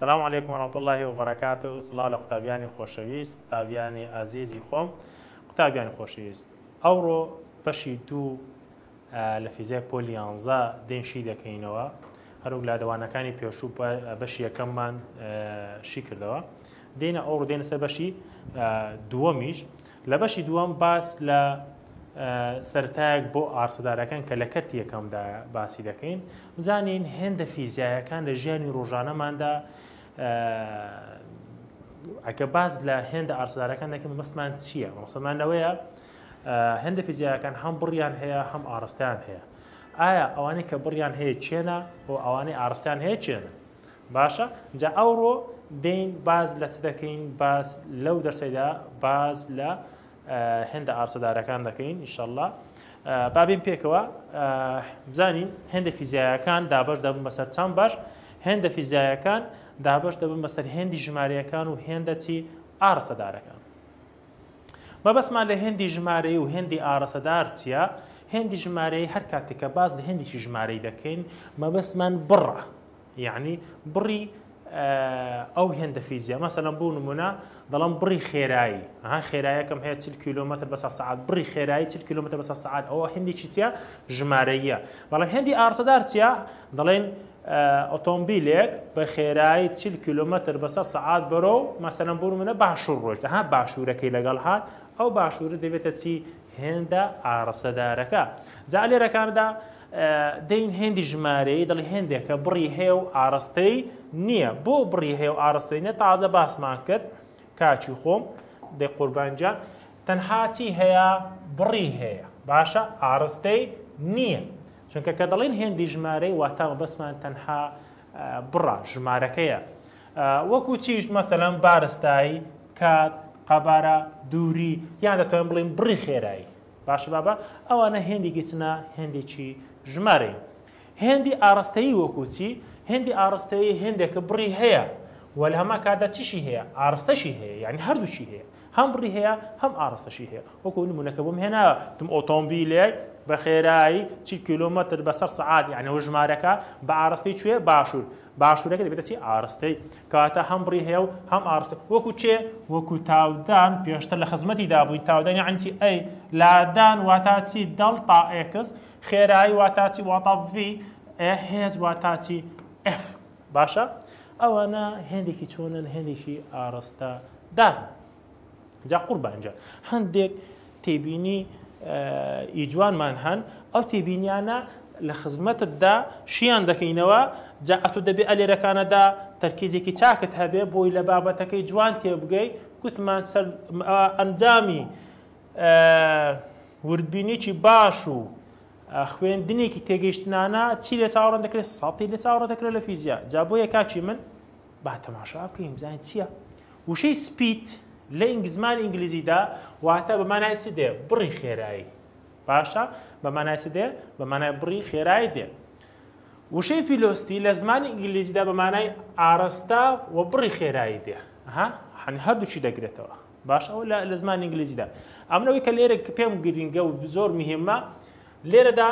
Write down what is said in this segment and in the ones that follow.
سلام علیکم و رحمت اللە و بەرەکاتوو سڵاو لە قوتابیانی خۆشەویست قوتابیانی ئازیزی خۆم قوتابیانی خۆشەویست ئەوڕۆ بەشی دوو لە فیزیای پۆلی یانزە دێین شی دەکەینەوە هەروک لادەوانەکانی پێشوو بەشی یەکەممان شی کردەوە دێنە ئەو ڕدێنە سەر بەشی دووەمیش لە بەشی دووەم باس لە سەرتایەک بۆ ئارسەدارەکان کە لە کەرتی یەکەمدا باسی دەکەین بزانین هێندە فیزیایەکان لە ژیانی ڕۆژانەماندا ئەگە باز لە هێندە ئارسدارەکان دەکەم مەسمان چییە مەسەمانەوەیە هێندە فیزیایەکان هەم بڕیان هەیە هەم ئاڕستیان هەیە ئایا ئەوانەی کە بڕیان هەیە چێنە و ئەوانەی ئاڕستیان هەیە چێنە باشە جا ئەوڕۆ دەین باز لە چ دەکەین باز لەو دەرسەیدا باز لە هێندە ئارسەدارەکان دەکەین ئیشەله بابین پێکەوە بزانین هێندە فیزیایەکان دابش دەبن بەسەر چەند باش هێندە فیزیایەکان دابش دەبن بەسەر هێندی ژمارەکان و هێندە چی ئارسەدارەکان مەبەستمان لە هێندی ژمارەیی و هێندی ئاڕەسەدار چییە؟ هێندی ژمارەیی هەر کاتێک کە باس لە هێندێکی ژمارەی دەکەین، مەبەستمان بڕە. یعنی بڕی ئەو هێندە فیزیا مەسەلەن بۆ نمونە دەڵم بڕی خێرایی ها خێرایەکەم هەیە چل کیلومتر بە سعات بڕی خێرایی چل کیلومتر بە سعات ئەوە هەندێکی چیا ژمارەیە بەڵام هەندی ئارتەدار چیا دەڵێن ئۆتۆمبیلێک بە خێرایی چل کیلۆمەتر بەسەر سەعات بەرەو مەسەلەن بۆ نموونە باشوور ڕۆیشت، ها باشوورەکەی لەگەڵ هات، ئەو باشوورە دەبێتە چی؟ هێندە ئاڕستەدارەکە. جا لێرە کانەدا دەین هێندی ژمارەیی دەڵێ هێندێکە بڕی هەیە و ئاڕستەی نییە. بۆ بڕی هەیە و ئاڕستەی نییە تازە باسمان کرد کاکی خۆم دەی قوربان گیان تەنها چی هەیە؟ بڕی هەیە باشە ئاڕستەی نییە. چونکە کە دەڵێین هێندی ژمارەی واتا مەبەستمان تەنها بڕە ژمارەکەیە وەکو چیش مەسەلەن بارستایی کات قەبارە دووری یان دەتوانین بڵین بڕی خێرایی باشە بابە ئەوانە هێندێکی چنە هێندێکی ژمارەی هێندی ئاراستەیی وەکوچی هێندی ئاراستەیی هێندێکە بڕی هەیە وەل هەما کادا چیشی هەیە ئاراستەشی هەیە یعنی هەردووشی هەیە هەم بڕی هەیە هەم ئاڕاستەشی هەیە وەکو نمونەکە بۆم هێنا تم ئۆتۆمبیلێک بە خێرایی چل کیلۆمەتر بە سەد سەعات یانی ئەوە ژمارەکە بە ئاڕاستەی کوێ باشور باشورەکە دەبێتە چی ئاڕاستەی کەواتە هەم بڕی هەیە و هەم ئاڕاستە وەکو چێ وەکو تاودان پێشتر لە خزمەتی دابووین تاودان یانی چی ئەی لادان واتا چی دەڵتا ئێکس خێرایی واتا چی واتا ڤی ئێ هێز واتا چی ئێف. باشە ئەوانە هێندێکی چۆنن هێندێکی ئاڕستە دارن جا قوربانجا هەندێک تێبینی ئی جوانمان هەن ئەو تێبینیانە لە خزمەتتدا شیان دەکەینەوە جا ئەتو دەبێ ئەلێرەکانەدا تەرکیزێکی چاکت هەبێ بۆی لە بابەتەکەی جوان تێبگەی گوتمان سەر ئەنجامی وردبینیی باش و خوێندنێکی تێگەیشتنانە چی لێ چاوەڕێ دەکرێت سەتی لێ چاوەڕێ دەکرێت لە فیزیا جا بۆیە کاچی من با تەماشا بکەین بزانین چییە وشەی سپیت لە ئینگلیزمانی ئینگلیزیدا واتە بە مانای چ دێ بڕی خێرایی باشە بە مانای چ دێ بە مانای بڕی خێرایی دێ وشەی فیلۆستی لە زمانی ئینگلیزیدا بە مانای ئارەستا و بڕی خێرایی دێ ها هەن هەردووچی دەگرێتەوە باش ئەوە لە لە زمانی ئینگلیزیدا ئەمن ئەوەی کە لێرە کە پێم گرینگە و زۆر مهمە لێرەدا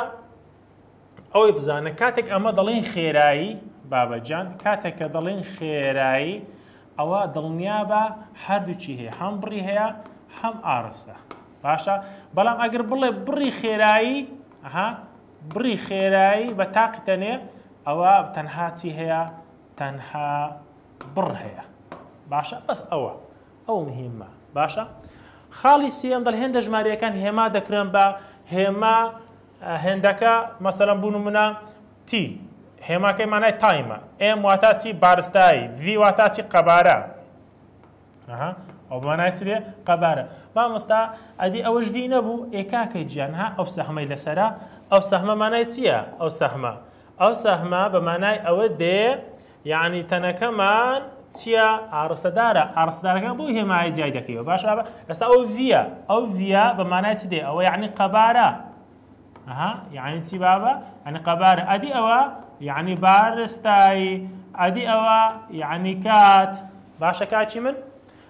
ئەوەی بزانە کاتێک ئەمە دەڵێن خێرایی بابەجان کاتێک کە دەڵێن خێرایی ئەوە دڵنیا بە هەردووچی هەیە هەم بڕی هەیە هەم ئارستە باشە بەڵام ئەگەر بڵێ بڕی خێرایی ها بڕی خێرایی بە تاقی تەنێ ئەوە تەنها چی هەیە تەنها بڕ هەیە باشە بەس ئەوە ئەو مهیمە باشە خاڵی سێم دەل هێندە ژمارەکان هێما دەکرێن بە هێما هێندەکە مەسەرم بوون منە تی هێماکەی مانای تایمە ئێم واتا چی بارستایی وی واتا چی قەبارە ئەو مانای چ بێ قەبارە مامۆستا ئەدی ئەوەش وی نەبوو ئێکاکە گیان ها ئەو سەحمەی لەسرە ئەو سەحمە مانای چییە ئەو سەحمە ئەو سەحمە بە مانای ئەوە دێ یەعنی تەنەکەمان چیە ئاڕستەدارە ئاڕستەدارەکان بۆ هێمایە جای دەکەیەوە باش ئێستا ئەو ڤە ئەو ڤە بە مانای چ دێ ئەوە یعنی قەبارە ئەها یعنی چی بابە ئەنی قەبارە ئەدی ئەوە یعنی بارستایی ئەدی ئەوە یعنی کات باشە کاچی من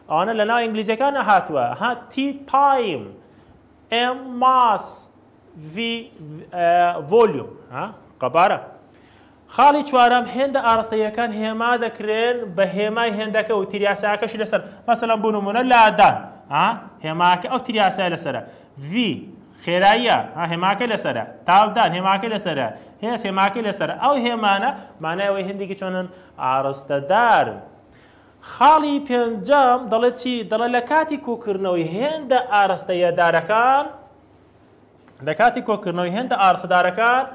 ئەوانە لە ناو ئینگلیزیەکان نەهاتووە ها تی تایم ئێم ماس ڤۆلیوم قەبارە خاڵی چوارەم، هێندە ئاڕاستەییەکان هێما دەکرێن بە هێمای هێندەکە و تریاسایەکەشی لەسەر، مەسەلەن بۆ نموونە لادان، a هێماکە ئەو تریاسایە لەسەرە، v خێراییە، a هێماکەی لەسەرە، تاودان هێماکەی لەسەرە، هێز هێماکەی لەسەرە، ئەو هێمانە مانای ئەوەی هێندێکی چۆنن؟ ئاڕستەدارن. خاڵی پێنجەم، دەڵێت چی؟ دەڵێت لە کاتی کۆکردنەوەی هێندە ئاڕاستەییەدارەکان، لە کاتی کۆکردنەوەی هێندە ئاڕستەدارەکان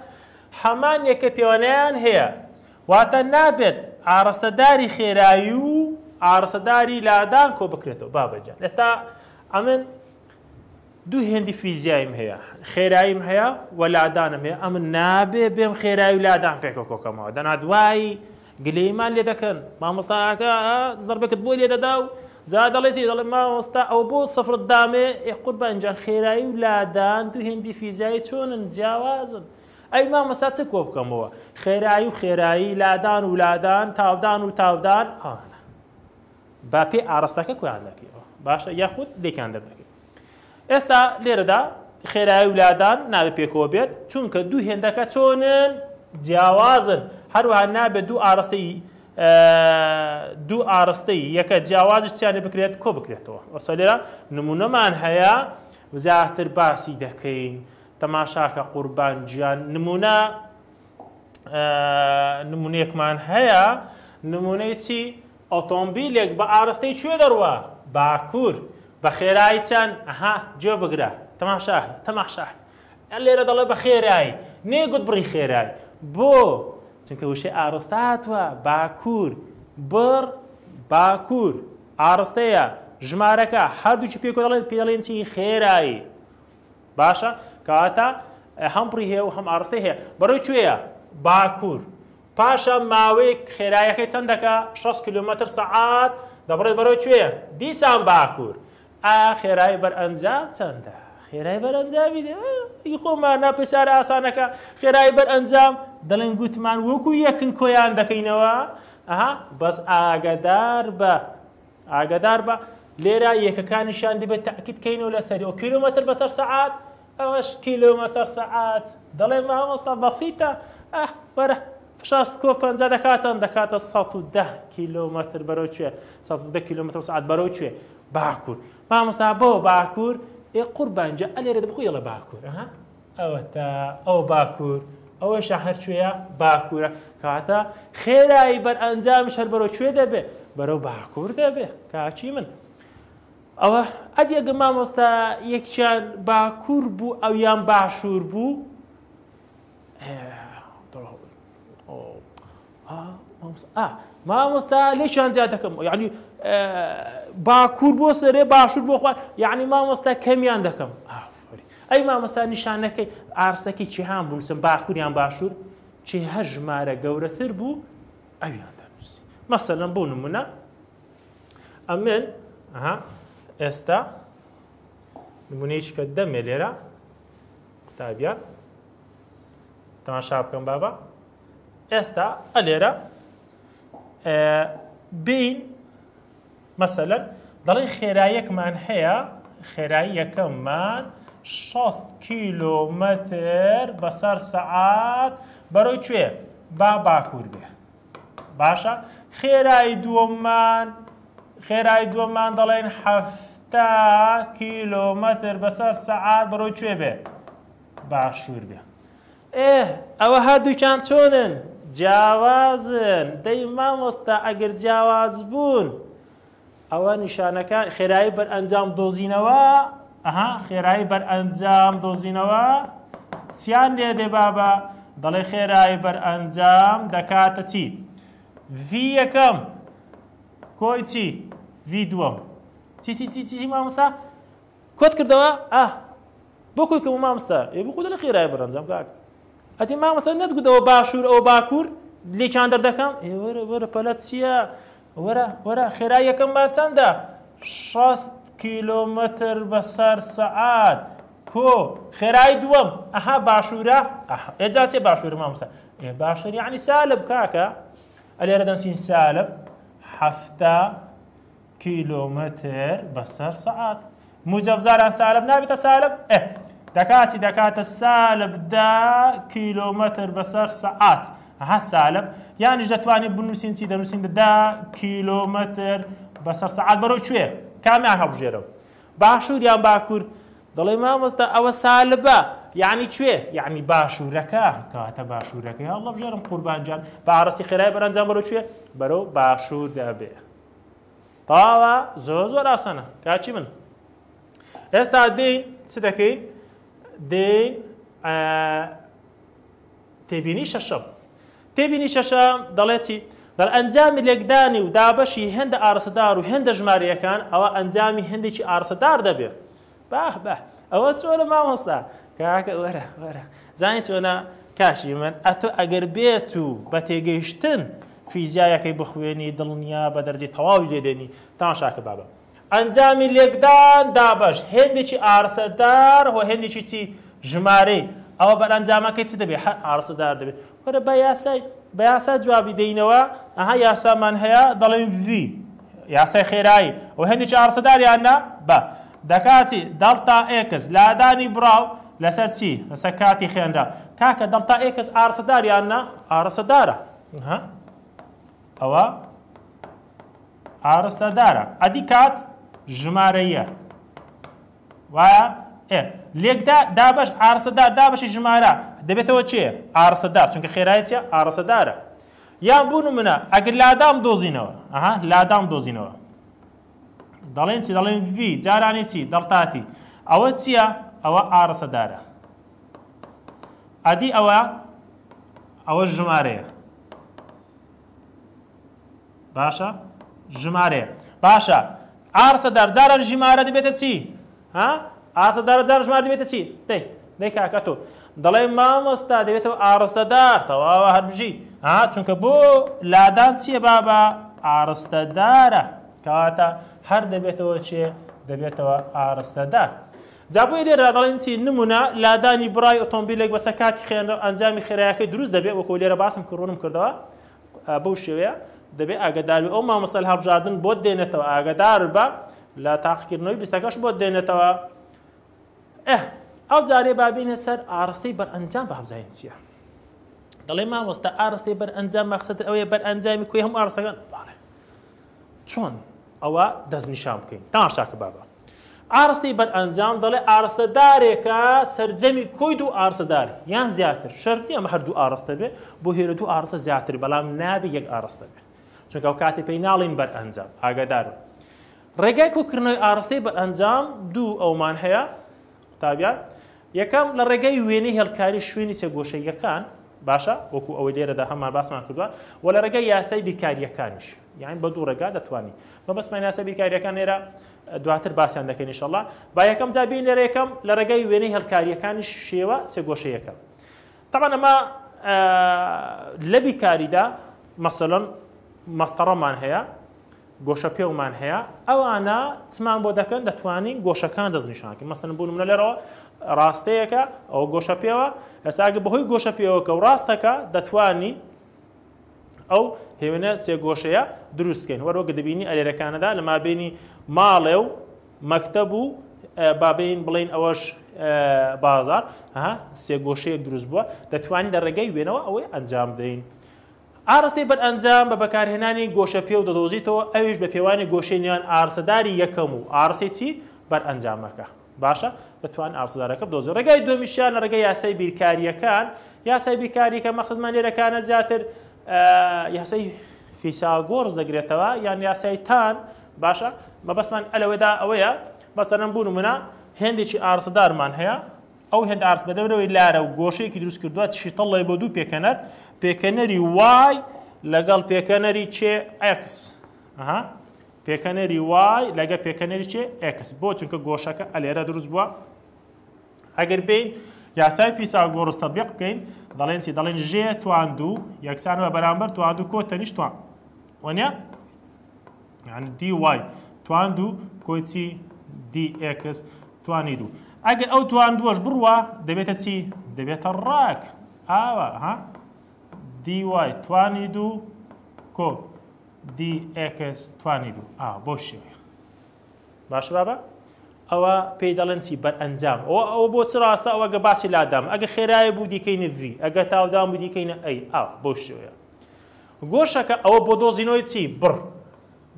هەمان یەکە پێوەنەیان هەیە، واتە نابێت ئاڕستەداری خێرایی و ئاڕستەداری لادان کۆبکرێتەوە بابە گیان ئێستا ئەمن دوو هێندی فیزیاییم هەیە خێراییم هەیە و لادانم هەیە ئەمن نابێ بێم خێرای و لادان پێکە کۆکەمەوە دەنا دوایی گلەیمان لێ دەکەن مامۆستا ئاکا زەربەکت بۆ لێ دەدا و جا دەڵێ چی دەڵێ مامۆستا ئەوە بۆ سفرت دامێ ئێ قوربان گیان خێرایی و لادان دوو هێندی فیزیایی چۆنن جیاوازن ئەی مامۆستا چ کۆ بکەمەوە خێرایی و خێرایی لادان و لادان تاودان و تاودان ئەوانە با پێ ئاڕاستەکە کۆیان دەکەیەوە باشە یاخود لێکیان دەردەکەی ئێستا لێرەدا خێرایی و لادان نابێت پێکەوە بێت چونکە دوو هێندەکە چۆنن جیاوازن هەروها نابێت دوو ئارستەی دوو ئارستەی یەکە جیاوازش چیانە بکرێت کۆ بکرێتەوە ئەوسا لێرە نمونەمان هەیە زیاتر باسی دەکەین تەماشاکە قوربان گیان نمونە نمونەیەکمان هەیە نمونەی چی ئۆتۆمبیلێک بە ئاراستەی کوێ دەڕوا؟ باکوور. بە خێرایی چەند؟ ئەها، گوێ بگرە. تەماشا کە. تەماشا کە. لێرە دەڵێت بە خێرایی. نەیگوت بڕی خێرایی. بۆ؟ چونکە وشەی ئاراستە هاتووە. باکوور. بڕ. باکوور. ئاراستەیە. ژمارەکە. هەردووکی پێک کۆ دەڵێن، پێی دەڵێن چی؟ خێرایی. باشە. کەواتە هەم بڕی هەیە و هەم ئاراستەی هەیە. بەڕێی کوێیە؟ باکوور. پاشان ماوەیەک خێرایەکەی چەندەکە شەست کیلۆمەتر سەعات دەبڕێت بەرەو کوێ دیسان باکور ئا خێرای بەر ئەنجام چەندە خێرای بەر ئەنجامی دێ ئی خۆمان نا پێسار ئاسانەکە خێرای بەر ئەنجام دەڵێن گوتمان وەکو یەکن کۆیان دەکەینەوە ئەها بەس ئاگەدار بە ئاگەدار بە لێرە یەکەکانیشان دەبێت تاکیدکەینەوە لەسەری و کیلومتر بەسەر سەعات ئەوەش کیلۆمەتەر سەعات دەڵێ مامۆستا بەسیتە ئەه وەرە فشار سکۆ پەنجا دەکاتەن دەکاتە سەد و دە کیلۆمەتر بەرەو کوێ سەد و دە کیلۆمەتر سەعات بەرەو کوێ باکوور مامۆستا بۆ باکوور ئێ قوربان جا ئەلێرە بۆ یەڵە باکوور ئەها ئەوەتا ئەو باکوور ئەوەی شەهر کوێیە باکوورە کاتە خێرایی بەرئەنجامیش هەر بەرەو کوێ دەبێ بەرەو باکوور دەبێ کاچی من ئەوە ئەدی ئەگەر مامۆستا یەکیان باکور بوو ئەویان باشور بوو مامۆستا لێکیان زیاد دەکەم یعنی باکور بۆ سەرێ باشور بۆ خوار یعنی مامۆستا کەمیان دەکەم ئەی مامۆستا نیشانەکەی ئارسەکەی چیهان بنووسم باکوریان باشور چی هەر ژمارە گەورەتر بوو ئەویان دەنووسی مەسەلەن بۆ نمونە ئەمن ئەها ئێستا نمونەیشکە دەمێ لێرە قوتابیان تەماشا بکەم بابا ئێستا ئە لێرە بین مەسەلەن دەڵێ خێرایەکمان هەیە خێراییەکەمان 6 کیلومتر بەسەر سەعات بەرەو کوێ با باکوور بێ باشە خێرای دووەممان خێرای دووەممان دەڵێن حەفتا کیلۆمەتر بەسەر سەعات بەڕۆی کوێ بێ باشوور بێ ئێ ئەوە هەردووکیان چۆنن جیاوازن دەی مامۆستا ئەگەر جیاواز بوون ئەوە نیشانەکە خێرایی بەر ئەنجام دۆزینەوە ئەها خێرایی بەر ئەنجام دۆزینەوە چیان لێ دێ بابە دەڵێ خێرایی بەر ئەنجام دەکاتە چی ڤی یەکەم کۆی چی ڤی دووەم چی چی چی چی مامۆستا کۆت کردەوە ئە بۆ کۆی کەم مامۆستا ئێ بخۆ لە خێرای بەرەنجام کاک ئەدی مامۆستا نەتگوتەوە باشوور ئەو باکوور لێکیان دەردەکەم ئێ وەرە وەرە پەلەت چییە وەرە وەرە خێرا یەکەم بار چەندە؟ شەست کیلۆمەتر بەسەر سەعات. کۆ خێرای دووەم ئەها باشوورە ئێجا چێ باشوورە مامسا ئێ باشتر یعنی سالب کاکە ئەلێرە دەنووسین سالب حەفتا کیلۆمەتر بەسەر سەعات موجب جاران سالب نابێتە سالب ئە دەکاتی دەکاتە سالب دا کیلۆمەتر بەسەر سەعات ها سالب یانیش دەتوانین بنووسین چی دەنووسین دا کیلۆمەتر بەسەر سەعات بەرەو کوێ کامیان هەڵبژێرەوە باشوور یان باکوور دەڵێ مامۆستا ئەوە سالبە یعنی کوێ یعنی باشوورەکە کەواتە باشوورەکەی هەڵبژێرم قوربانجان بە ئارەسی خێرای بەرەنجام بەرەو کوێ بەرەو باشوور دەبێ تەواوە زۆر زۆر ئاسانە کاچی من ئێستا دێین چ دەکەین دێین تێبینی شەشەم تێبینی شەشەم دەڵێتی دەڵ ئەنجامی لێکدانی و دابەشی هێندە ئارسەدار و هێندە ژمارەکان ئەوە ئەنجامی هەندێکی ئارسەدار دەبێت باه باه ئەوە چۆنە مامۆستا کاکە وەرە وەرە زانانی چۆنە کاشی من ئەتۆ ئەگەر بێت و بە تێگەیشتن فیزیایەکەی بخوێنی دڵنیا بە دەرجی تەواوی لێدێنی تاشاکە بابە ئەنجامی لێکدان دابەش هێندێکی ئارسەدار و هێندێکی چی ژمارەی ئەوە بەرئەنجامەکەی چ دەبێت هەر ئارسەدار دەبێت وەرە با یاسای بە یاسا جوابی دەینەوە ئەها یاسامان هەیە دەڵێن ڤی یاسای خێرایی و هەندێکی ئاڕسەداریان نا بە دەکاتی دەڵتا ئێکس لادانی بڕاو لەسەر چی لەسەر کاتی خێنرا کاکە دەڵتا ئێکس ئاڕسەداریان نا ئاڕسەدارە ها ئەوە ئاڕستەدارە ئەدی کات ژمارەیە وایە؟ ئێ لێکدا دابەش ئارەسەدار دابەشی ژمارە دەبێتەوە چێ؟ ئارەسەدار چونکە خێرای چیە؟ ئارەسەدارە یان بوو نمونە ئەگەر لادام دۆزینەوە ئەها لادام دۆزینەوە دەڵێن چی دەڵێن ڤی جارانی چی دەڵتاتی ئەوە چییە ئەوە ئارەسەدارە ئەدی ئەوە ئەوە ژمارەیە باشە ژمارەیە باشە ئارسە دار جارە ژمارە دەبێتە چی ها ئارسە دار جار ژمار دەبێتە چی دەی دەی کاکە تۆ دەڵێ مامۆستا دەبێتەوە ئارستە دار تەواوە هەربژی ها چونکە بۆ لادان چییە بابا ئارستە دارە کەواتە هەر دەبێتەوە چێ دەبێتەوە ئارستە دار جا بۆی لێرە دەڵێن چی نمونە لادانی برای ئۆتۆمبیلێک بەسە کاتی خێنەوە ئەنجامی خێرایەکەی دروست دەبێت وەکو لێرە باسم کڕونم کردەوە بەو شێوەیە دەبێ ئاگەداربی ئەو مامۆستای هەڵبژاردن بۆت دێنێتەوە ئاگەدار بە لە تاقیکردنەوەی بیستەکەش بۆت دێنێتەوە ئەو جارێ بابینە سەر ئارستەی بەرئەنجام بابزانین چییە دەڵێ مامۆستا ئارستەی بەرئەنجام مەخصەت ئەوەیە بەرئەنجامی کوێ هەم ئارستەکان باڵێ چۆن ئەوە دەستنیشان بکەین؟ تەماشاکە بابە ئاڕستەی بەرئەنجام دەڵێ ئاڕستەدارێکە سەرجەمی کۆی دوو ئاڕستەدار یان زیاتر شەرت نیە ئەمە هەردوو ئاڕستە بێ بۆ هێرە دوو ئاڕستە زیاتر بەڵام نابێ یەک ئاڕستە بێ چونکە ئەو کاتێ پێی ناڵین بەرئەنجام ئاگادارن ڕێگای کۆکردنەوەی ئاڕستەی بەرئەنجام دوو ئەومان هەیە قوتابیان، یەکەم، لە ڕێگای وێنەی هێڵکاری شوێنی سێ گۆشەییەکان، باشە، وەکو ئەوەی لێرەدا هەمان باسمان کردووە، وە لە ڕێگای یاسای بیرکارییەکانیش، یانی بە دوو ڕێگا دەتوانین. مەبەستمان یاسای بیرکارییەکان لێرە دواتر باسیان دەکەین ان شاءاللە. با یەکەم جار بێین لێرە یەکەم، لە ڕێگای وێنەی هێڵکارییەکانی شێوە سێ گۆشەییەکە. تەبعەن ئەمە لە بیکاریدا مەسەلەن مەسطەڕەمان هەیە، گۆشەپێومان هەیە، ئەوانە چمان بۆ دەکەن دەتوانین گۆشەکان دەستنیشان کەین. مەسەلەن بۆ نمونە لێرەوە ڕاستەیەکە ئەوە گۆشەپێوە، ئێستا ئەگەر بەهۆی گۆشەپێوەکە و ڕاستەکە دەتوانین ئەو هێونە سێگۆشەیە دروستکەین وەرۆ گدبینی ئەرێرەکانەدا لە مابینی ماڵێ و مەکتەب و بابین بڵین ئەوەش بازار ها سێگۆشەیە دروست بووە دەتوانین لە ڕێگەی وێنەوە ئەوەی ئەنجام بدەین. ئارستی بەر ئەنجام بە بەکارهێنانی گۆشە پێ و دەدۆزیتەوە ئەویش بە پێوانی گۆشەی نێوان ئارسەداری یەکەم و ئارسی چی بەر ئەنجامەکە باشە دەتوانن ئاسۆدارەکە بدۆزن. ڕێگای دووەمیشیان لە ڕێگای یاسای بیرکارییەکان، یاسای بیرکارییەکە مەقسەدمان لێرەکانە زیاتر یاسای فیساگۆرس دەگرێتەوە یان یاسای تان باشە مەبەستمان ئەلەوەدا ئەوەیە بەسەرم بوون منە هێندێکی ئارسەدارمان هەیە ئەو هێند ئارس بە دەورەوەی لارە و گۆشەیەکی دروست کردووە شیتەڵی بۆ دوو پێکەنەر پێکەنەری وای لەگەڵ پێکەنەری چێ ئەکس پێکەنەری وای لەگە پێکەنەری چێ ئێکس بۆ چونکە گۆشەکە ئەلێرە دروست بووە ئەگەر بین یاسای فیساگۆرس تەبیق بکەین دەڵێن چی دەڵێن ژێ توان دوو یەکسان بە بەرامبەر توان دوو کۆ تەنیش توان وەنە یعنی دی وای توان دوو کۆچی دی ئێکس توانی دوو ئەگەر ئەو توان دووەش بڕوە دەبێتە چی دەبێتە ڕاک ئاوە ها دی وای توانی دوو کۆ دی ئێکس توانی دوو ئا بەو شێوەیە باشە بابە ئەوە پێی دەڵێن چی بەرئەنجام ئەوە ئەوە بۆ چ ڕاستە ئەوە گە باسی لادام ئەگە خێرای بوو دیکەینە ڤی ئەگە تاودام بوو دیکەینە ئەی ئا بۆ شێوەیە گۆشەکە ئەوە بۆ دۆزینەوەی چی بڕ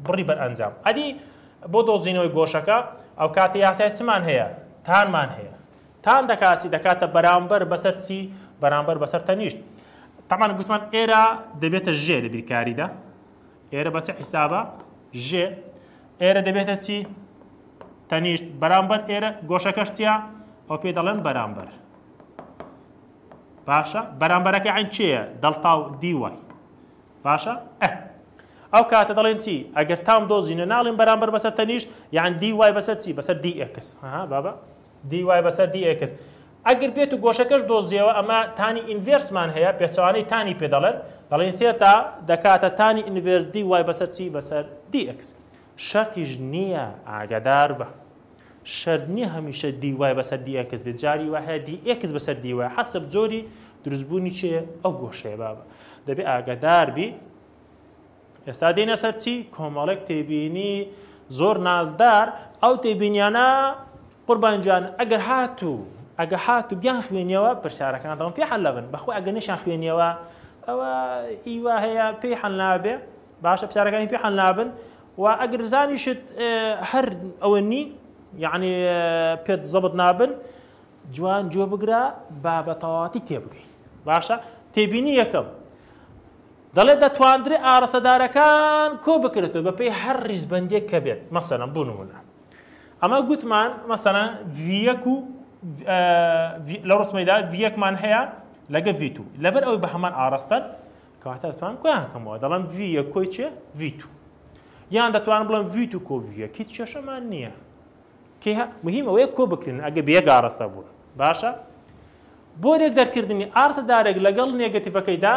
بڕی بەرئەنجام ئەدی بۆ دۆزینەوەی گۆشەکە ئەو کاتە یاسای چمان هەیە تانمان هەیە تان دەکات چی دەکاتە بەرامبەر بەسەر چی بەرامبەر بەسەر تەنیشت تەمان گوتمان ئێرە دەبێتە ژێ لە بیرکاریدا ئێرە بە چ حیسابە ژێ ئێرە دەبێتە چی تەنیشت بەرامبەر ئێرە گۆشەکەشتیا ئەو پێ دەڵێن بەرامبەر باشە بەرامبەرەکە عین چێە دەڵتا و دیوای باشە ئەو کاتە دەڵێن چی ئەگەر تام دۆزینە ناڵین بەرامبەر بەسەر تەنیش یان دی وای بەسەر چی بەسەر دی ئەکس بابە dy بەسەر dx ئەگر بێت و گۆشەکەش دۆزیەوە ئەمە تانی ئینڤێرسمان هەیە پێچەوانەی تانی پێ دەڵێن دەڵێین ثێتا دەکاتە تانی ئینڤێرس dy بەسەر چی بەسەر dx شەرتیش نیە ئاگەداربە شەرت نیە هەمیشە dy بەسەر dx بێت جاری وا هەیە dx بەسەر dy حەسب جۆری دروستبوونی چێ ئەو گۆشەیە بابە دەبێ ئاگەداربی ئێستا دێینە سەر چی؟ کۆمەڵێک تێبینی زۆر نازدار ئەو تێبینیانە قوربان جان ئەگەر هاتوو ئەگە هات و بیان خوێنیەوە پرسیارەکان دەڵم پێ حل لەبن بەخۆ ئەگە نشان خوێنیەوە ئەوە ئیوا هەیە پێی حل نابێ باشە پرسیارەکانی پێ حل نابن و ئەگەر زانیشت هەر ئەوە نی یعنی پێت زەبت نابن جوان جۆ بگرە با بە تەواتی تێبگەی باشە تێبینی یەکەم دەڵێت دەتواندرێت ئاڕەسەدارەکان کۆ بکرێتەوە بە پێی هەر ڕیزبەندیەک کە بێت مەسەلەن بۆ نمونە ئەمە گوتمان مەسەلەن ڤیەک و لەو ڕسمەیدا ڤیەکمان هەیە لەگە ڤیتو لەبەر ئەوی بە هەمان ئاڕاستەن کەواتە دەتوان کۆیان هەکەمەوە دەڵم ڤیە کۆی چێ ڤیتو یان دەتوانم بڵم ڤیت و کۆڤیە هیچ کێشەمان نییە کێ مهمەوەی کۆ بکرێن ئەگە بێگاڕستە بوون باشە بۆ رێک دەرکردنی ئارتە دارێک لەگەڵ نێگەتیڤەکەیدا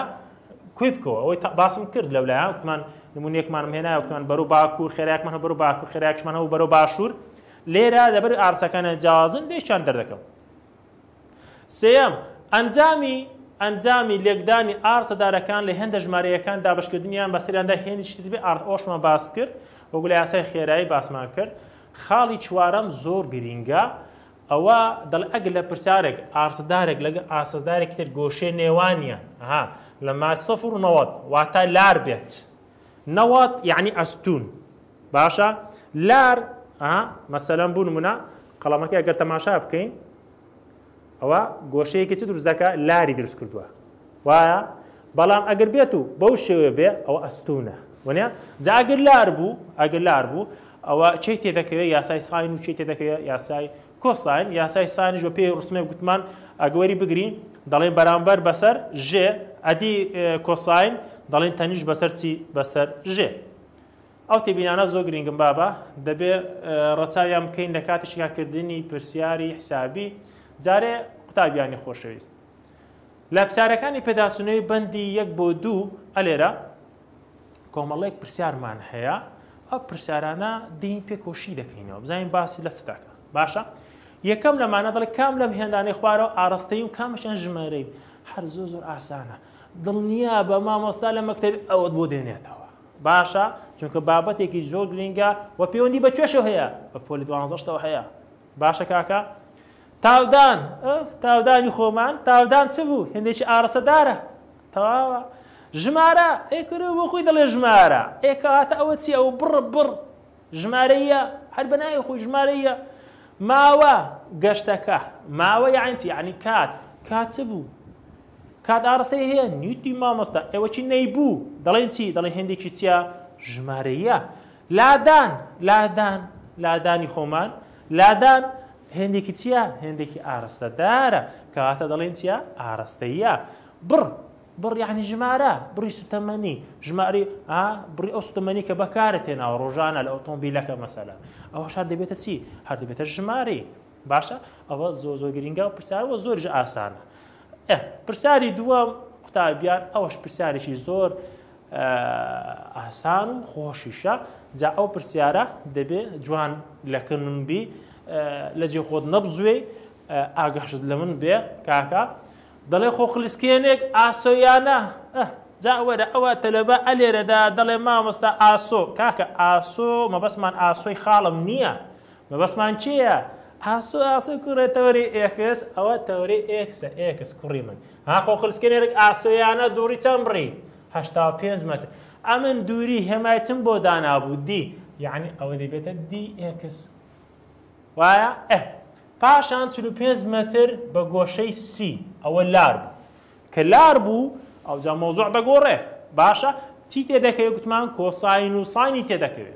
کۆی بکەوە ئەوەی باسم کرد لەولایە وتمان نمونونێکمانم هێنایە وتمان بەرو باکوور خێراکمان هە بەرو باکوور خێراکشمان هەو بەرو باشوور لێرە لەبەر ئارسەکانە جیازن لێشان دەردەکەم سێم ئەنجامی ئەنجامی لێکدانی ئارتە دارەکان لە هێندە ژمارەیەکان دابشکردنیان بەسەریاندا هێنی شتبێ ئارت ئۆشمان باس کرد وەگولی یاسای خێرایی باسمان کرد خاڵی چوارەم زۆر گرینگە ئەوا دەڵێ ئەگەر لە پرسیارێک ئاسەدارێک لەگەڵ ئاسەدارێکی تر گۆشەی نێوانیان ها لە مایەی سفر و نەوەد واتە لار بێت، نەوەد یەعنی ئەستوون باشە لار ها مەسەلەن بۆ نموونە قەڵەمەکەی ئەگەر تەماشا بکەین ئەوا گۆشەیەکی چ دروست دەکات لاری دروست کردووە. وایە بەڵام ئەگەر بێت و بەو شێوێ بێ ئەوە ئەستونە وەنە جا ئەگەر لار بوو ئەگەر لار بوو ئەوە چی تێ دەکەوێت یاسای ساین و چی تێ دەکەوێت یاسای کۆساین یاسای سانیش بە پێی ڕسمێ گوتمان ئەگەوەری بگرین دەڵێن بەرامبەر بەسەر ژێ ئەدی کۆساین دەڵێن تەنیش بەسەر چی بەسەر ژێ ئەو تێبینانە زۆر گرنگم بابە دەبێ ڕەچاویان بکەین لە کاتی شیاکردنی پرسیاری حسابی جارێ قوتابیانی خۆشەویست لە پرسیارەکانی پێداچوونەوەی بەندی یەک بۆ دوو ئە لێرە کۆمەڵێک پرسیارمان هەیە ئەو پرسیارانە دین پێ کۆشی دەکەینەوە بزانین باسی لە چ دەکە باشە یەکەم لەمانە دڵی کام لەم هێندانەی خوارەوە ئاراستەی و کامشیان ژمارەی هەر زۆ زۆر ئاسانە دڵنیا بە مامۆستا لە مەکتتەبی ئەوەت بۆ دێنێتەوە باشە چونکە بابەتێکی زۆر گرنگە و پەیوەندی بە توێشەوە هەیە بە پۆلی دوانزەشتەوە هەیە باشە کاکە تاودان ئف تاودانی خۆمان تاودان چ بوو هێندێکی ئارەسە دارە تەواوە ژمارە ئەی کورە بۆ خۆی دەڵێ ژمارە ئێ کەواتە ئەوە چی ئەوە بڕ بڕ ژمارەیە هەر بە ناوی خۆی ژمارەیە ماوە گەشتەکە ماوە یاعین چی یعنی کات کات چ بوو کات ئاڕستەی هەیە نیوتی مامۆستا ئێوەکی نەیبوو دەڵێن چی دەڵێ هێندێکی چیە ژمارەیە لادان، لادان، لادانی خۆمان، لادان هێندێکی چییە؟ هێندێکی ئارەستەدارە، کەواتە دەڵێین چییە؟ ئارەستەییە. بڕ، بڕ یانی ژمارە، بڕی سوتەمەنی، ژمارەی، ها، بڕی ئەو سوتەمەنی کە بەکارت هێناوە ڕۆژانە لە ئۆتۆمبیلەکە مەسەلەن. ئەوەش هەر دەبێتە چی؟ هەر دەبێتە ژمارەی. باشە، ئەوە زۆر زۆر گرینگە و پرسیار و زۆریش ئاسانە. ئێ، پرسیاری دووەم قوتابیان، ئەوەش پرسیارێکی زۆر ئاسان و خۆشیشە جا ئەو پرسیارە دەبێ جوان لەکنم بی لەجێ خۆت نەبزوێی ئاگەشت لە من بێ کاکە دەڵێ خۆ خلیسکێنێک ئاسۆیانە جا وەرە ئەوە تەلەبە ئەلێرەدا دەڵێ مامۆستا ئاسۆ کاکە ئاسۆ مەبەسمان ئاسۆی خاڵم نییە مەبەستمان کێیە؟ ئاسۆ ئاسۆ کوڕێ تەوەری ئێکس ئەوە تەوەری ئێکسە ئێکس کوڕی من ها خۆ خلسکێنەرێک ئاسۆیانە دووڕی چەند بڕی هەشتا و پێنج مەتر ئەمن دووری هێمای چم بۆ دانابوو دی یەعنی ئەوە دەبێتە دی ئێکس وایە ئە پاشان چل و پێنج مەتر بە گۆشەی سی ئەوە لار بوو کە لار بوو ئەوجا مەوزوع دەگۆڕێ باشە چی تێدەکەوێ گوتمان کۆساین و ساینی تێدەکەوێ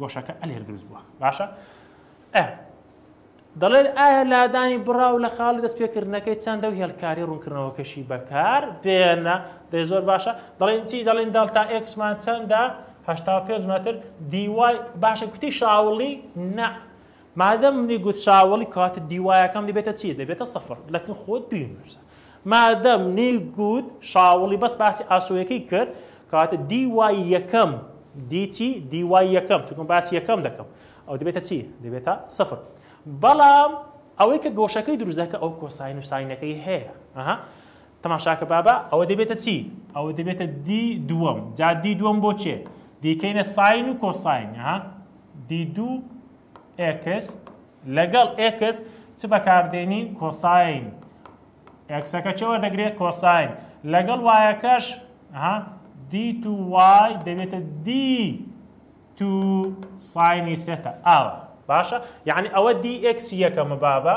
گۆشەکە ئەلێر دروست بووە باشە ئە دەڵێت ئایا لادانی بڕاو لە خاڵی دەست پێکردنەکەی چەندە و هێلکاری ڕوونکردنەوەکەشی بەکار بێنە دەی زۆر باشە دەڵێن چی دەڵێن دەڵتا ئێکسمان چەندە هەشتا پێنج مەتر دیوای باشە کوتی شاوڵی نە مادەم منی گوت چاوەڵی کاتت دیوایەکەم دەبێتە چی دەبێتە سفر لەکن خۆت بینوسە مادەم نی گوت شاوڵی بەس باسی ئاسۆیەکەی کرد کاتە دی وای یەکەم دی چی دی وای یەکەم چونکم باسی یەکەم دەکەم ئەو دەبێتە چی دەبێتە سفر بەڵام ئەوەی کە گۆشەکەی دروزەکە ئەو کۆساین و ساینەکەی هەیە ئەها تەماشاکە بابە ئەوە دەبێتە چی؟ ئەوە دەبێتە دی دووەم جا دی دووەم بۆ چێ؟ دیکەینە ساین و کۆساین ها دی دوو ئێکس لەگەڵ ئێکس چ بەکاردێنین کۆساین ئێکسەکە چەوە دەگرێت کۆساین لەگەڵ وایەکەش ها دی تو وای دەبێتە دی تو ساینی سێتە ئاوە باشە یعنی ئەوە دی ئێکسی یەکەمە بابە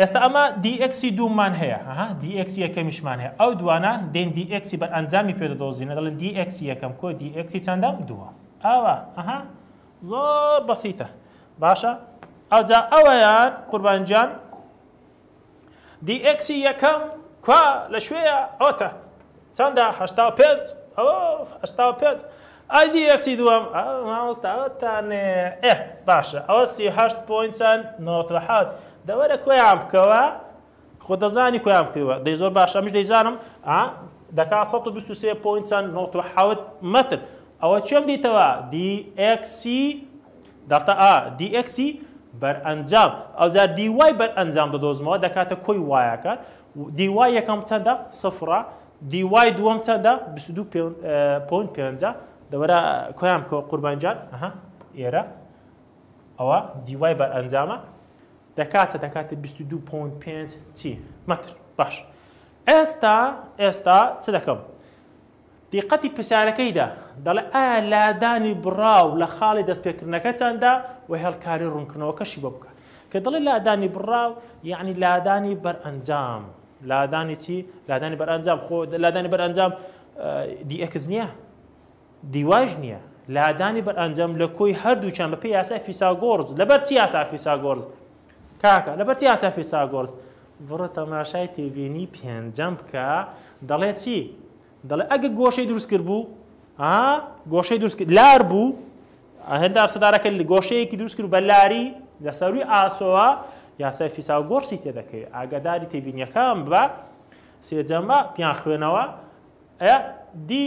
ئێستا ئەمە دی ئێکسی دووممان هەیە، ئەها دی ئێکسی یەکەمیشمان هەیە، ئەو دووانە دێن دی ئێکسی بەرئەنجامی پێ دەدۆزینە، دەڵێن دی ئێکسی یەکەم کۆی دی ئێکسی چەندەم؟ دووەم. ئەوە، ئەها، زۆر بەسیتە. باشە، ئەوجا ئەویان، قوربان گیان، دی ئێکسی یەکەم کوا، لە کوێیە؟ ئەوەتە. چەندە؟ هەشتا و پێنج. ئەوە، هەشتا و پێنج. ئایدی ئێکسی دووەم ئە مامۆستا ئەوە تانێ ئێ باشە ئەوە سی و هەشت پۆینت چەند نۆت و حەوت دە وەرە کۆیان بکەوە خۆ دەزانی کۆیان بکەوە دەی زۆر باشە ئەمیش دەیزانم ئا دەکا سەد و بیست و سێ پۆینت چەند نۆت و حەوت مەتر ئەوە کێم دیتەوە دی ئێکسی دەڵتە ئا دی ئێکسی بەرئەنجام ئەوجا دی وای بەرئەنجام دەدۆزمەوە دەکاتە کۆی وایەکە dy یەکەم چەندە؟ سفرە. dy دووەم چەندە؟ بیست و دوو پۆینت پێنجە. دەوەرە کۆیان بکەوە قوربان جان. ئەها ئێرە ئەوە dy بەرئەنجامە دەکاتە دەکاتە بیست و دوو پۆینت پێنج چی؟ مەتر. باش. ئێستا ئێستا چ دەکەم؟ دیقەتی پرسیارەکەیدا، دەڵێت ئایا لادانی بڕاو لە خاڵی دەستپێکردنەکەتاندا و هێڵکاری ڕوونکردنەوەکەشی بۆ بکە. کە دەڵێت لادانی بڕاو، یەعنی لادانی بەرئەنجام. لادانی چی؟ لادانی بەرئەنجام. خۆ لادانی بەرئەنجام دی ئێکس نییە؟ دی وایش نییە. لادانی بەرئەنجام لە کۆی هەردووکیان بەپێی یاسای فیساگۆرز. لەبەر چی یاسای فیساگۆرز؟ کاکە لەبەر چی ئاسیا فیساگۆرس بڕۆ تەماشای تێبینی پێنجەم بکە دەڵێ چی دەڵێ ئەگە گۆشەی دروست کرد بوو ها گۆشەی دروست کرد لار بوو هێندار سەدارەکە لە گۆشەیەکی دروست کرد بە لاری لە سەروی ئاسۆوە یاسای فیساگۆرسی تێدەکەوێت ئاگاداری تێبینیەکان بە سێجەمە پیان خوێنەوە ئەیا دی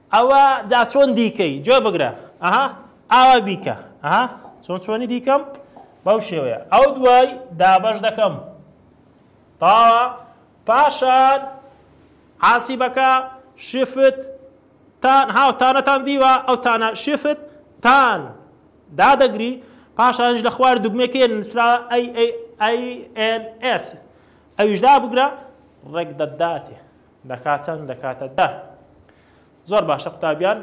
ئەوە جا چۆن دیکەی گوێ بگرە ئەها ئاوا بیکە ئەها چۆن چۆنی دیکەم بەو شێوەیە ئەو دوای دابەش دەکەم تاوە پاشان عاسی بەکە شفت تان هاو تانەتان دیوە ئەو تانە شفت تان دادەگری پاشانش لە خوار دوگمێکی نووسرا ئەی ئەی ئەی ئەن ئێس ئەویش دابگرە ڕێک دەداتێ دەکا چەند دەکاتە دە. زۆر باشە قوتابیان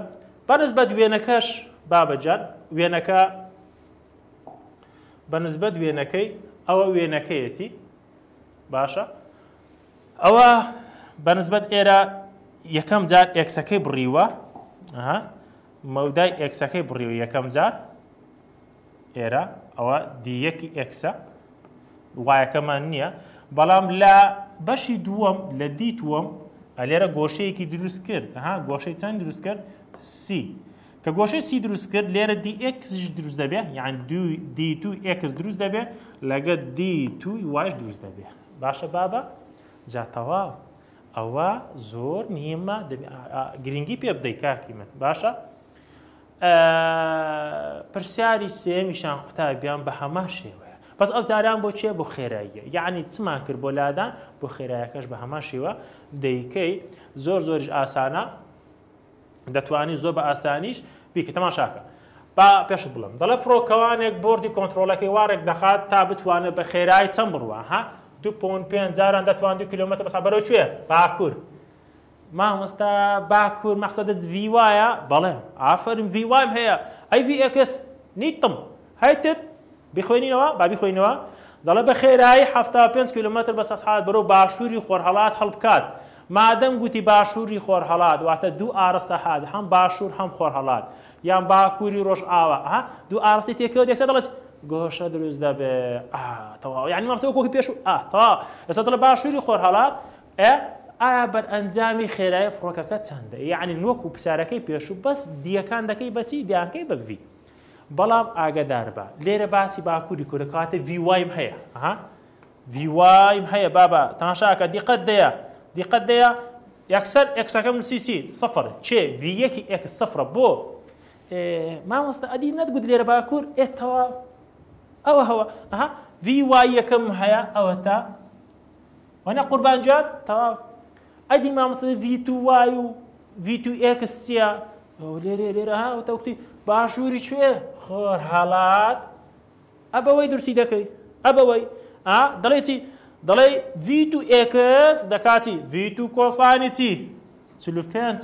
بە نسبەت وێنەکەش بابەجان وێنەکە بە نسبەت وێنەکەی ئەوە وێنەکەیەتی باشە ئەوە بە نسبەت ئێرە یەکەم جار ئێکسەکەی بڕیوە مەودای ئێکسەکەی بڕیوە یەکەم جار ئێرە ئەوە دی یەکی ئێکسە وایەکەمان نییە بەڵام لە بەشی دووەم لە دیتووەم ئەلێرە گۆشەیەکی دروست کرد ها گۆشەی چەند دروست کرد سی کە گۆشەی سی دروست کرد لێرە دی ئێکسش دروست دەبێ یان دی تو ئێکس دروست دەبێ لەگە دی توی واش دروست دەبێ باشە بابە جاتەوا ئەوە زۆر مهمە گرنگی پێ بدەی کاکی من باشە؟ ئە پرسیاری سێیەمیشان قوتابیان بە هەمان شێوەیە بەس ئەو جاریان بۆ چیە بۆ خێراییە یعنی چمان کرد بۆ لادان بۆ خێرایەکەش بە هەمان شێوە دەیکەی زۆر زۆریش ئاسانە دەتوانی زۆر بە ئاسانیش بیکە تەماشاکە با پێشت بڵم دەڵێ فڕۆکەوانێک بردی کۆنتترۆلەکەی وارێک دەخات تا بتوانێت بە خێرایی چەند بڕوە ها دو پۆن پێنج جاران دەتوان دو کیلومتر بەسا بەرەو کوێ باکوور مامۆستا باکور مەقسەدت ڤی وایە؟ بەڵێ ئافەرم ڤی وایم هەیە ئەی ڤی ئێکس نیتم هەیتت بیخوێنینەوە با بیخوێینەوە دەڵێ بە خێرایی حەفتا و پێنج کیلۆمەتر بە سەسعات بەرەو باشووری خۆرهەڵات هەڵبکات مادەم گوتی باشووری خۆرهەڵات واتە دوو ئاڕستە هات هەم باشوور هەم خۆرهەڵات یان باکووری ڕۆژئاوا ئەها دوو ئاڕستی تێکەوە دەکسێ دەڵێت گۆشە دروست دەبێ ئا تەواو یانی مامسە وەک وەکی پێش ئا تەواو ئێستا دەڵێ باشووری خۆرهەڵات ئە ئایا بەرئەنجامی خێرایی فڕۆکەکە چەندە یەعنی وەکو پرسیارەکەی پێشوو بەس دیەکان دەکەی بە چی دیانکەی بە ڤی بەڵام ئاگەداربە لێرە باسی باکووری کورە کاتە ڤی وایم هەیە ها ڤی وایم هەیە بابا تاشاکە دیقەت دەیە دیقەت دەیە یەکسەر ئەکسەکەم نووسی چی سفر چێ ڤی یەکی ئەکس سفرە بۆ مامۆستا ئەدی نەتگوت لێرە باکوور ئێتەوە ئەوە هەوە ئەها ڤی وای یەکەم هەیە ئەوە تا وەنا قوربان جان تەواو ئەدی مامۆستا ڤی تو وای و ڤی تو ئێکس چییە لێرێ لێرە ها وتەوتی باشووری کوێ خۆر هەڵات ئەبەوەی درسی دەکەی ئەبەوەی ئا دەڵێ چی دەڵێ ڤی تو ئێکس دەکاتی ڤی تو کۆسانی چی چل و پێنج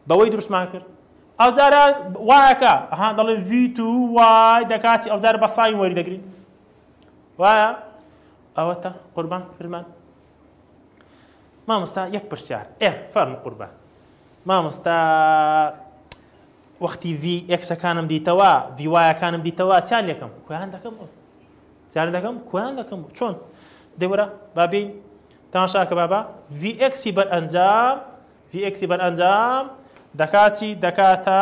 بەوەی درستمان کرد ئەوجارە وایەکە ئەها دەڵێ ڤی تو وای دەکاتی ئەوجار بە ساین وەری دەگرین وایە ئەوەتە قوربان فرمان مامۆستا یەک پرسیار ئێ فەرم قوربان مامۆستا وەختی وی ئێکسەکانم دیتەوە ویوایەکانم دیتەوە چیان لەکەم کویان دەکەم چیان دەکەم کویان دەکەم چۆن دەورە بابین تاشاکە بابا ویئکسی بەر ئەنجام ویئکسی بەر ئەنجام دەکاتی دەکاتە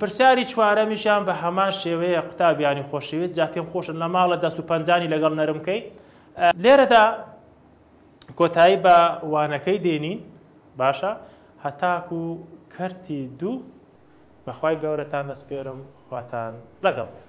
پرسیاری چوارەمیشیان بە هەمان شێوەیە قوتابیانی خۆشەویست جا پێم خۆشە لە ماڵە دەست و پەنجانی لەگەڵ نەرم بکەی لێرەدا کۆتایی بە وانەکەی دێنین باشە هەتاکو کەرتی دوو. بەخوای گەورەتان دەسپێرم خواتان لەگەڵ بێت.